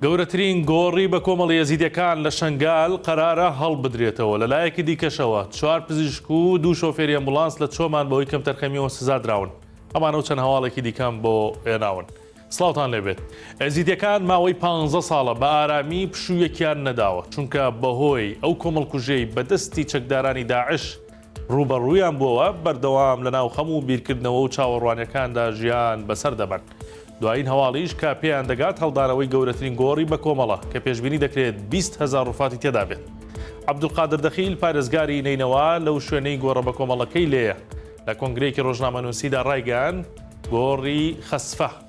گەورەترین گۆڕی بە کۆمەڵی یەزیدەکان لە شنگال قەرارە هەڵبدرێتەوە لە لایەکی دیکەشەوە چوار پزیشک و دوو شۆفێری ئەمبولانس لە چۆمان بەهۆی کەمتەرخەمیەوە سزا دراون ئەمانە و چەند هەواڵێکی دیکەم بۆ ئێناون سلااوان لێبێت ئەزیدەکان ماوەی 15 ساڵە بە ئارامی پشوویەکیان نەداوە چونکە بەهۆی ئەو کۆمەڵکوژەی بەدەستی چەکدارانی داعش ڕووبەڕوویان بووەوە، بەردەوام لە ناو خەم و بیرکردنەوە و چاوەڕوانیەکاندا ژیان بەسەر دەبەن. دوایین هەواڵیش کە پێیان دەگات هەڵدانەوەی گەورەترین گۆڕی بەکۆمەڵە کە پێشبینی دەکرێت بیست هەزار ڕوفاتی تێدا بێت. عەبدولقادر دەخیل پارێزگاری نەینەوا لەو شوێنەی گۆڕە بەکۆمەڵەکەی لێیە لە کۆنگرەیەکی ڕۆژنامەنوسیدا ڕایگەیاند گۆڕی خەسفە،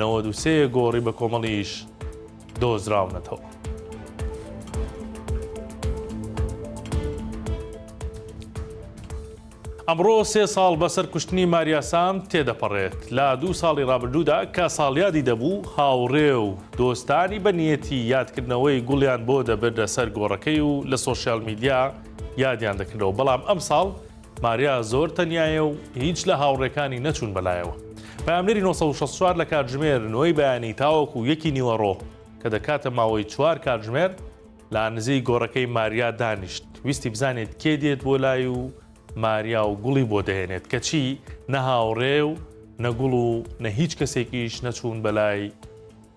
نەوەد و سێ گۆڕی بە کۆمەڵیش دۆزراونەتەوە. ئەمڕۆ سێ ساڵ بەسەر کوشتنی ماریا سام تێدەپەڕێت لە دوو ساڵی ڕابردوودا کە ساڵیادی دەبوو هاوڕێ و دۆستانی بە نیەتی یادکردنەوەی گوڵیان بۆ دەبردە سەر گۆڕەکەی و لە سۆشیال میدیا یادیان دەکردەوە بەڵام ئەم ساڵ ماریا زۆر تەنیایە و هیچ لە هاوڕێکانی نەچوون بەلایەوە. پەیامنێری نۆ سەد و شەست و چوار لە کاتژمێر نۆی بەیانی تاوەکو یەکی نیوەڕۆ کە دەکاتە ماوەی چوار کاتژمێر لە نزیک گۆڕەکەی ماریا دانیشت ویستی بزانێت کێ دێت بۆ لای و ماریا و گوڵی بۆ دەهێنێت کەچی نە هاوڕێ و نە گوڵ و نە هیچ کەسێکیش نەچوون بەلای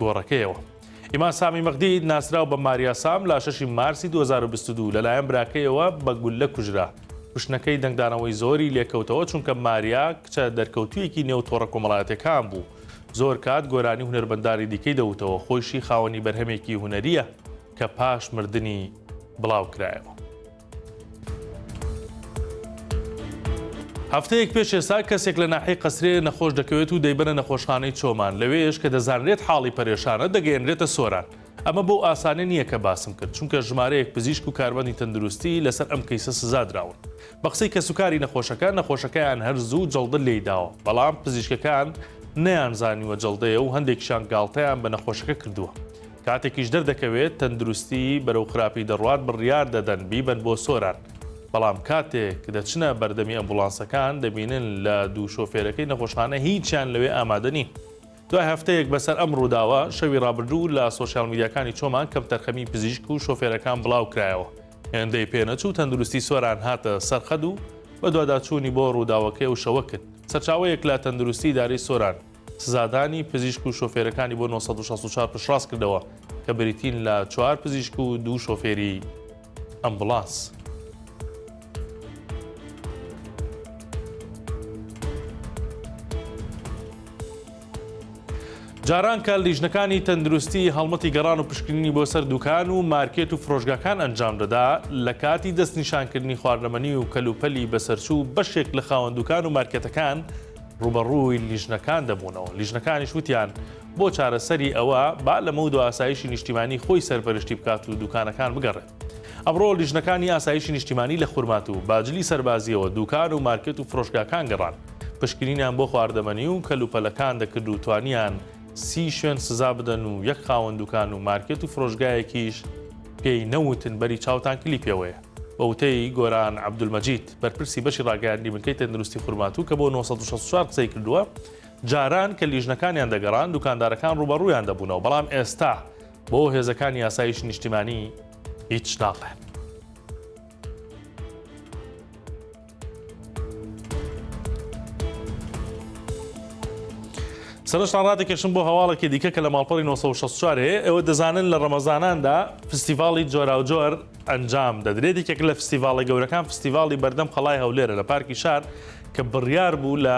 گۆڕەکەیەوە. ئیمان سامی مەغدی ناسراو بە ماریا سام لە شەشی مارسی دوو هەزار و بیست و دوو لەلایەن براکەیەوە بە گوللە کوژرا. کوشتنەکەی دەنگدانەوەی زۆری لێکەوتەوە چونکە ماریا کچە دەرکەوتوویەکی نێو تۆڕە کۆمەڵایەتیەکان بوو. زۆر کات گۆرانی هونەرمەندانی دیکەی دەوتەوە، خۆیشی خاوەنی بەرهەمێکی هونەرییە کە پاش مردنی بڵاوکرایەوە. هەفتەیەک پێش ئێستا کەسێک لە ناحی قەسرێ نەخۆش دەکەوێت و دەیبەنە نەخۆشخانەی چۆمان لەوێش کە دەزانرێت حاڵی پەرێشانە دەگەێنرێتە سۆران ئەمە بۆ ئاسانێ نییە کە باسم کرد چونکە ژمارەیەک پزیشک و کاربندی تەندروستی لەسەر ئەم کەیسە سزادراون بە قسەی کە سوکاری نەخۆشەکە نەخۆشەکەیان هەر زوو جەڵدە لێی داوە بەڵام پزیشکەکان نیان زانیوە جەڵدەیە و هەندێکشان گاڵتەیان بە نەخۆشەکە کردووە کاتێکیش دەردەکەوێت تەندروستی بەرەو خراپی دەڕوات بڕیار دەدەن بیبەن بۆ سۆران، بەڵام کاتێک دەچنە بەردەمی ئەمبوڵانسەکان دەبینن لە دوو شۆفێرەکەی نەخۆشخانە هیچیان لەوێ ئامادە نین. دوای هەفتەیەک بەسەر ئەم ڕووداوە، شەوی ڕابردوو لە سۆشیال میدیاکانی چۆمان کەمتەرخەمی پزیشک و شۆفێرەکان بڵاوکرایەوە، هێندەی پێنەچوو تەندروستی سۆران هاتە سەرخەت و بەدواداچوونی بۆ ڕووداوەکەی ئەو شەوە کرد. سەرچاوەیەک لە تەندروستی ئیدارەی سۆران، سزادانی پزیشک و شۆفێرەکانی بۆ نۆ سەد و شەست و چوار پشتڕاست کردەوە کە بریتین لە چوار پزیشک و دوو شۆفێری ئەمبوڵانس. جارانکە لیژنەکانی تەندروستی هەڵمەتی گەڕان و پشکنینی بۆ سەر دوکان و مارکێت و فرۆشگاکان ئەنجام دەدا لە کاتی دەستنیشانکردنی خواردەمەنی و کەلوپەلی بەسەرچوو بەشێک لە خاوەندوکان و مارکێتەکان ڕووبەڕووی لیژنەکان دەبوونەوە، لیژنەکانیش وتیان، بۆ چارەسەری ئەوە با لەمەودوا ئاسایشی نیشتیمانی خۆی سەرپەرشتی بکات و دووکانەکان بگەڕێت. ئەمڕۆ لیژنەکانی ئاسایشی نیشتیمانی لە خورماتوو، باجلی سەربازییەوە دووکان و مارکێت و فرۆشگاکان گەڕان، پشکنینیان بۆ خواردەمەنی و کەلوپەلەکان دەکرد و توانیان سی شوێن سزا بدەن و یەک خاوەن دووکان و مارکێت و فرۆشگایەکیش پێی نەوتن بەری چاوتان کلیپیەوەیە. بە وتەی گۆران عەبدولمەجید، بەرپرسی بەشی ڕاگەیاندنی بنکەی تەندروستی خورماتوو کە بۆ نۆ سەد و شەست و چوار قسەی کردووە، جاران کە لیژنەکانیان دەگەڕان دوکاندارەکان ڕووبەڕوویان دەبوونەوە، بەڵام ئێستا بۆ هێزەکانی ئاسایشی نیشتیمانی هیچ ناڵێن. سەرشتان ڕاتێکێشم بۆ هەواڵێکی دیکە کە لە ماڵپەڕی 1964 ئەوە دەزانن لە ڕەمەزاناندا فستیڤاڵی جۆراوجۆر ئەنجام دەدرێت یەکێک لە فستیڤاڵی گەورەکان فستیڤاڵی بەردەم قەڵای هەولێرە لە پارکی شار کە بڕیار بوو لە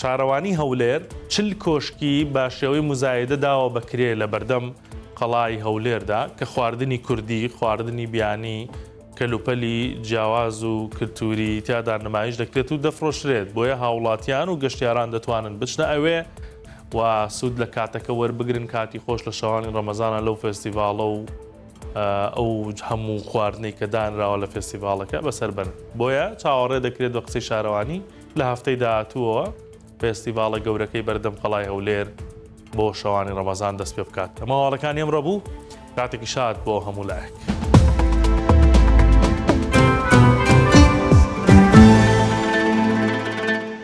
شارەوانی هەولێر چل کۆشکی بە شێوەی موزایدە داوە بە کرێ لە بەردەم قەڵای هەولێردا کە خواردنی کوردی، خواردنی بیانی، کەلوپەلی جیاواز و کلتووری تیادا نمایش دەکرێت و دەفرۆشرێت، بۆیە هاوڵاتیان و گەشتیاران دەتوانن بچنە ئەوێ و سوود لە کاتەکە وەربگرن، کاتی خۆش لە شەوانی ڕەمەزانە لەو فێستیڤاڵە و ئەو هەموو خواردنەی کە دانراوە لە فێستیڤاڵەکە بەسەر بەرن، بۆیە چاوەڕێ دەکرێت بە قسەی شارەوانی. لە هەفتەی داهاتووەوە فێستیڤاڵە گەورەکەی بەردەم قەڵای هەولێر بۆ شەوانی ڕەمەزان دەست پێ بکات ئەمە واڵەکانی ئەمڕە بوو کاتێکی شاد بۆ هەموو لایەک.